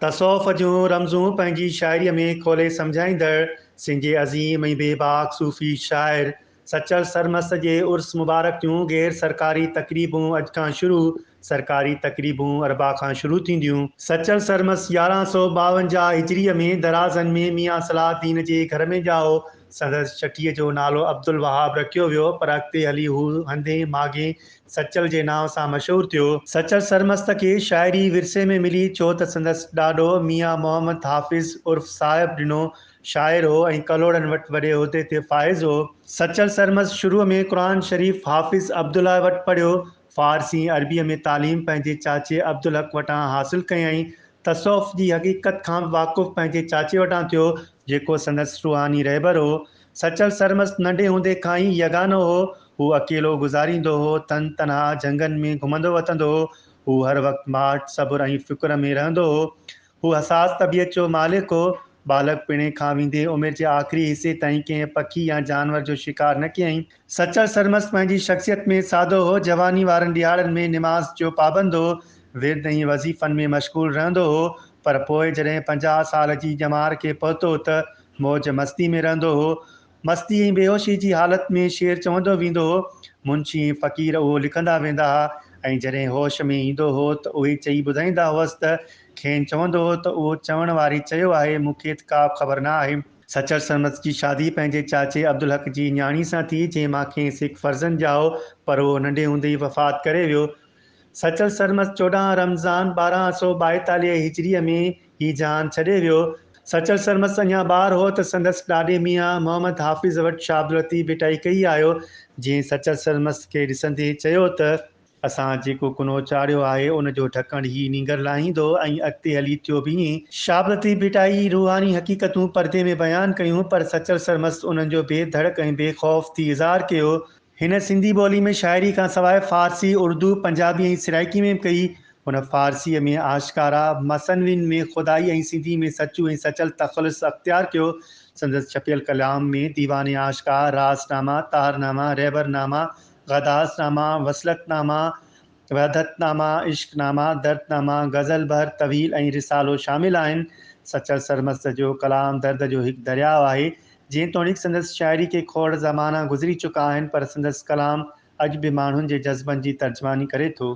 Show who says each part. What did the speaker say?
Speaker 1: تصوف جون رمزون پنهنجي شاعريء ۾ کولي سمجهائيندڙ سنڌي عظيم ۽ بي باڪ صوفي شاعر سچل سرمست جي عرس مبارڪ جون غير سرڪاري تقريبون اڄ کان شروع، سرڪاري تقريبون اربع کان شروع ٿينديون. سچل سرمست يارهن سؤ ٻاونجاهه هجريء ۾ درازن ۾ ميان صلاح الدين جي گهر ۾ ڄائو. سندس چٽيء جو نالو عبدالوهاب رکيو ويو، پر اڳتي هلي هو هندين ماڳين سچل جي نانء سان مشهور ٿيو. سچل سرمست کي شاعري ورثي ۾ ملي ڇو ته سندس ڏاڏو ميان محمد حافظ عرف صاحب ڏنو شاعر هو ۽ ڪلهوڙن وٽ وڏي عهدي تي فائز هو. سچل سرمست شروع ۾ قرآن شريف حافظ عبدالله وٽ پڙهيو. فارسي ۽ عربيء ۾ تعليم پنهنجي چاچي عبدالحق وٽان حاصل ڪيائين. تصوف جي حقيقت کان به واقف پنهنجي چاچي وٽان ٿيو، جيڪو سندس روحاني رهبر هو. سچل سرمست ننڍي هوندي کان ئي يگانو هو. هو اڪيلو گذاريندو هو، تن تنها جهنگن ۾ گهمندو وتندو هو. هو هر وقت ماٺ، صبر ۽ فڪر ۾ رهندو هو. هو حساس طبيعت جو مالڪ هو. ٻالڪپڻي کان ويندي عمر جي آخري حصي تائين ڪنهن پکي يا جانور جو شڪار نه ڪيائين. سچل سرمست پنهنجي شخصيت ۾ سادو هو، جواني وارن ڏهاڙن ۾ نماز جو پابند هو، ورد ۽ وظيفن ۾ مشغول رهندو هو، پر پوء جڏهن پنجاهه سال جي ڄمار کي پهتو ته موج مستي ۾ رهندو هو. مستي ۽ بيهوشي جي حالت ۾ شعر چوندو ويندو هو، منشي ۽ فقير اهو لکندا ويندا ها ۽ جڏهن هوش ۾ ايندو هو ته اهي چئي ٻڌائيندا هئس ته کين چوندو هو ته اهو چوڻ واري چيو آهي، مون کي ته ڪابه خبر نه آهي. سچل سرمست جي شادي پنهنجي چاچي عبدالحق جي نياڻي سان ٿي، جنهن مان کيس هڪ فرزند ڄائو، پر اهو ننڍي هوندي ئي وفات ڪري ويو. سچل سرمست چوڏهن رمضان ٻارهن سؤ ٻائيتاليهه هجريء ۾ هي جهان ڇڏي ويو. سچل سرمست اڃا ٻار هو ته سندس ڏاڏي ميان محمد حافظ وٽ شاهعبداللطيف ڀٽائي ڪهي آيو، جنهن سچل سرمست کي ڏسندي چيو ته. اسان جيڪو ڪنو چاڙهيو آهي، ان جو ڍڪڻ هي نينگر لاهيندو ۽ اڳتي هلي ٿيو بيهين. شابلتي ڀٽائي روحاني حقيقتون پردي ۾ بيان ڪيون، پر سچل سرمست انهن جو بي ڌڙڪ ۽ بي خوف ٿي اظهار ڪيو. هن سنڌي ٻولي ۾ شاعري کان سواء فارسي، اردو، پنجابي ۽ سرائيڪي ۾ به ڪئي. هن فارسيء ۾ آشڪارا، مثنوين ۾ خدائي ۽ سنڌي ۾ سچو ۽ سچل تخلص اختيار ڪيو. سندس ڇپيل ڪلام ۾ ديوان عاشقا، راس ناما، طاهر ناما، رهبر ناما، غداس نامه، وصلت نامه، وحدت نامه، عشق نامه، درد نامه، غزل بحر طويل ۽ رسالو شامل آهن. سچل سرمست جو ڪلام درد جو هڪ درياء آهي. جيتوڻيڪ سندس شاعري کي کوڙ زمانا گذري چڪا آهن پر سندس ڪلام اڄ به ماڻهن جي جذبن جي ترجماني ڪري ٿو.